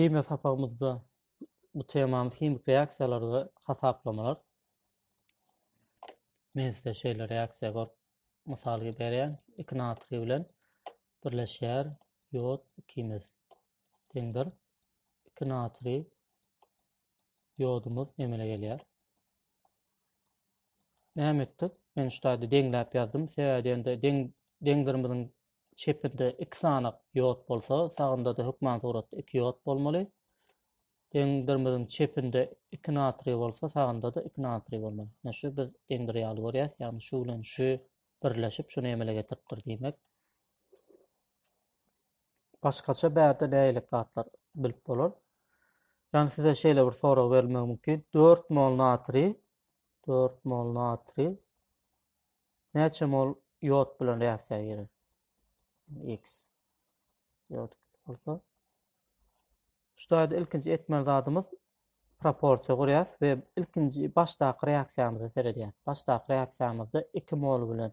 Himiýa sapagymyzda bu temamyz himik reaksiýalar we hasaplamalar. Men size şeýle reaksiýa görüp mysal berýän. 2 natriý bilen birleşýär ýod ikimiz deňdir. 2 natriý diodumuz emele gelýär. Näme etdik? Men şu taýda deňläp ýazdym. Sebäbi ýa-da deň deňdirimiziň çepinde iki sany diod bolsa, sagynda-da hökman suratda iki diod bolmaly. Deňdirimiziň çepinde iki natriý bolsa, sagynda-da iki natriý bolmaly. Ýa şu biz deňdir ýaly görýäs, ýagny şu bilen şu birleşip, şuny emele getiripdir diýmek. Başgaça bärde nähili zatlar bilip bolar? Ýani size şeýle bir sorag berilmegi mümkin. 4 mol natriý, 4 mol natriý näçe mol ýod bilen reaksiýa girer? X. Ýod bolsa. Şu ýerde ilkinji etmeli zadymyz proporsiýa gurýas we ilkinji başdaky reaksiýamyza seredýäs. Başdaky reaksiýamyzda 2 mol bilen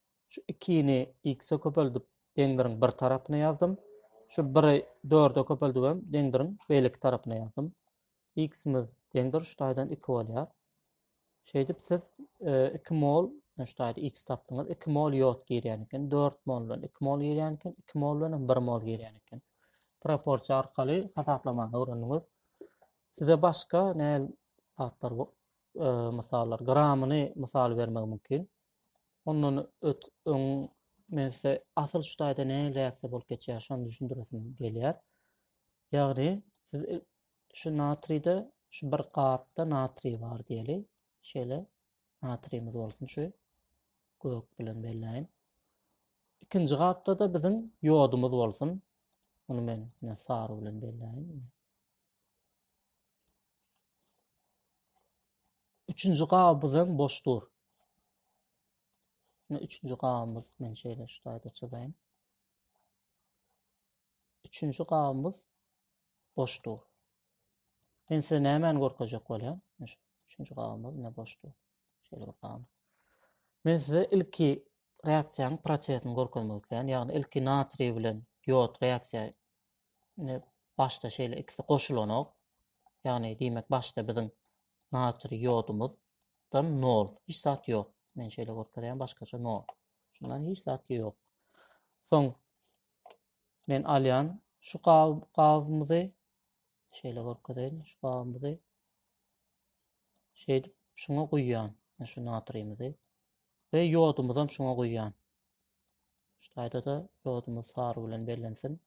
Şu ikini x-e köpeldip, deňdiriň bir tarapyna ýazdym. Şu 1-i 4-e köpeldip hem deňdiriň beýleki tarapyna ýazdym. X-imiz deňdir şu taýdan 2 bolýar. Şeýdip siz 2 e, mol, e, şu taýda x tapdyňyz, 2 mol ýod girýän eken, 4 mol bilen 2 mol girýän eken, 2 mol bilen 1 mol girýän eken. Proporsiýa arkaly hasaplamany öwrendiňiz. Size başga näl atlar, e, mysallar, gramyny mysal bermek mümkin. Ondan öt öň men size asyl şu taýda ne reaksiýa bolup geçýär, şony düşündiresim gelýär. Ýagny siz e, şu natriýde şu bir gapda natriý bar diýeli. Şeýle natriýimiz bolsun şu gök bilen belläýin. Ikinji gapda-da biziň ýodumyz bolsun. Muny men sary bilen belläýin. Üçünji gabymyz hem boş dur. Şimdi üçünji gabymyz, men şöyle şu tayda çizeyim. Üçünji gabymyz boş dur. Men size nämen görkezjek bolýan? Üçünji gabymyz ne boş dur. Şöyle bir gabymyz. Men size ilki reaksiýanyň prosesini görkezmek islän, ýagny ilki natriý bilen ýod reaksiýa Ine başda şeýle ikisi goşulanok. Ýagny diýmek başda biziň natriý ýodumyzdan nol. Hiç zat ýok. Men şeýle görkezýän başgaça nol. Şundan hiç zat ýok. Soň men alýan şu gabymyzy şeýle görkezeýin. Şu gabymyzy şeýdip şuňa guýýan. Şu natriýimizi Ve ýodumuzam şuňa guýýan. Şu taýda da ýodumuz sary bilen bellensin.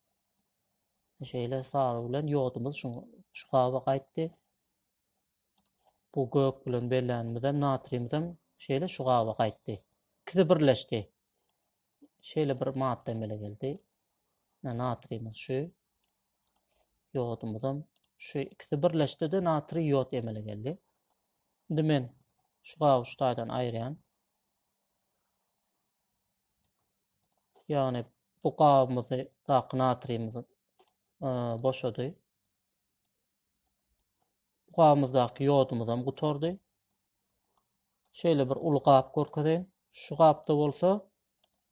Şeýle sary bilen ýodumuz şu şu gaba gaýtdy. Bu gök bilen bellänimizem natriýimizem şeýle şu gaba gaýtdy. İkisi birleşdi. şeýle bir madda emele geldi. Natriýimiz şu. Ýodumyzam şu ikisi birleşdi-de natriý ýod emele geldi. Indi men şu gaby şu taýdan aýyrýan. Ýagny bu gabymyzy daky natriýimiz e, boşady. Gabymyzdaky ýodumyz hem gutardy. Şeýle bir uly gap görkezeýin. Şu gapda bolsa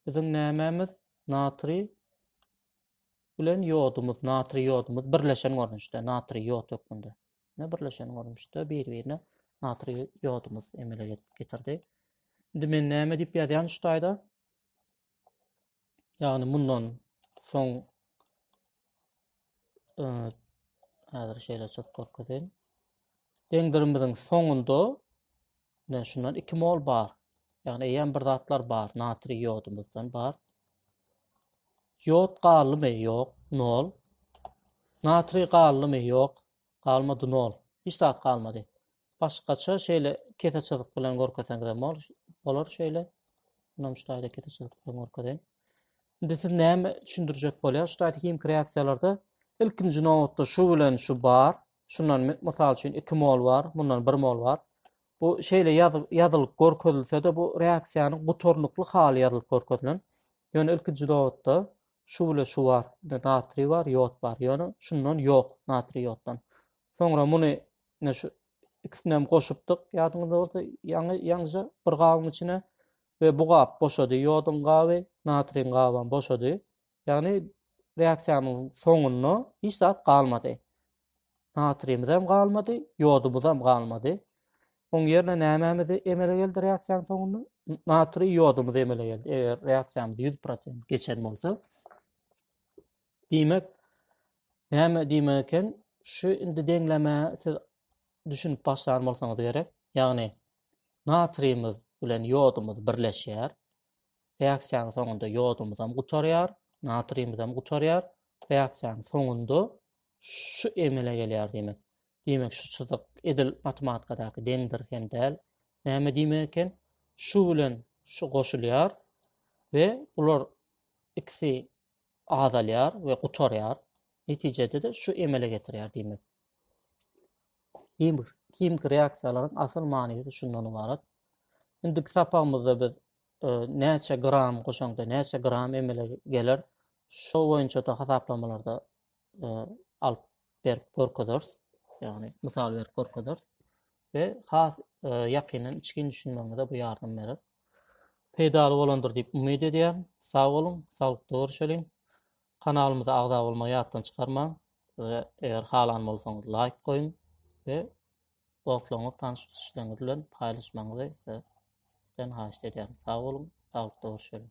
biziň nämemiz? Natriý bilen ýodumyz, natriý ýodumyz birleşen görnüşde, natriý ýod hökmünde. Ne birleşen görnüşde bir-birine natriý ýodumyz emele getirdi. Indi men näme diýip ýazýan şu taýda? Ýagny mundan soň e, häzir şeýle çyk görkezeyim. Deňdirimiziň soňunda ne şundan 2 mol bar. Ýagny eýýäm bir zatlar bar, natriý ýodumyzdan bar. Ýod galdymy? Ýok, 0. Natriý galdymy? Ýok, galmady 0. Hiç zat galmady. Başgaça şeýle kese çyzyk bilen görkeseňizem bol- bolar şeýle. Munam şu taýda kese çyzyk bilen görkezeýin. Indi siz näme düşündirjek bolýar? Şu taýda himiki reaksiýalarda ilkinji nobatda şu bilen şu bar. Şundan mi- mysal üçin 2 mol bar, mundan 1 mol bar. Bu şeýle ýazy- ýazylyp görkezilse-de bu reaksiýanyň gutarnykly haly ýazylyp görkezilen. Ýöne ilkinji nobatda şu bilen şu bar. Indi natriý bar, ýod bar. Ýöne şundan ýok, natriý ýoddan. Soňra muny ne şu ikisini hem goşupdyk. Ýadyňyzda bolsa ýaňy ýaňja bir gabyň içine we bu gap boşady. Ýodyň gaby, natriň gaby hem boşady. Ýagny reaksiýanyň soňunda hiç zat galmady. Natrimiz hem galmady, ýodumyz hem galmady. Oň ýerine nämämizi emele geldi reaksiýanyň soňunda? Natri ýodumyz emele geldi. Eger reaksiýamyz 100% geçen bolsa, Diýmek, näme diýmek eken, şu indi deňlemä siz düşünip başlan bolsaňyz gerek. Ýagny, natriýimiz bilen ýodumyz birleşýär. Reaksiýanyň soňunda ýodumyz hem gutarýar, natriýimiz hem gutarýar. Reaksiýanyň soňunda şu emele gelýär diýmek. Diýmek, şu çyzyk edil matematikadaky deňdir hem däl. Näme diýmek eken? Şu bilen şu goşulýar we bular ikisi azalýar we gutarýar. Netijede-de şu emele getirýär diýmek. Himik, himik reaksiýalaryň asyl manysy şundan ybarat. Indiki sapagymyzda biz e, näçe gram goşaňda näçe gram emele geler, şo boýunça da hasaplamalarda e, alyp berip görkezers. Ýagny mysal berip görkezers. Ve has e, ýakyndan içgin düşünmegiňize bu ýardam berer. Peýdaly bolandyr diýip umyt edýän. Sag boluň, saglykda görüşeliň. Kanalymyza agza bolmagy ýatdan çykarmaň ve eger halan bolsaňyz laýk goýuň ve dostlaryňyz, tanşyşlaryňyz bilen paýlaşmagyňyzy sizden haýyşt edýärin. Sag boluň, saglykda görüşeliň.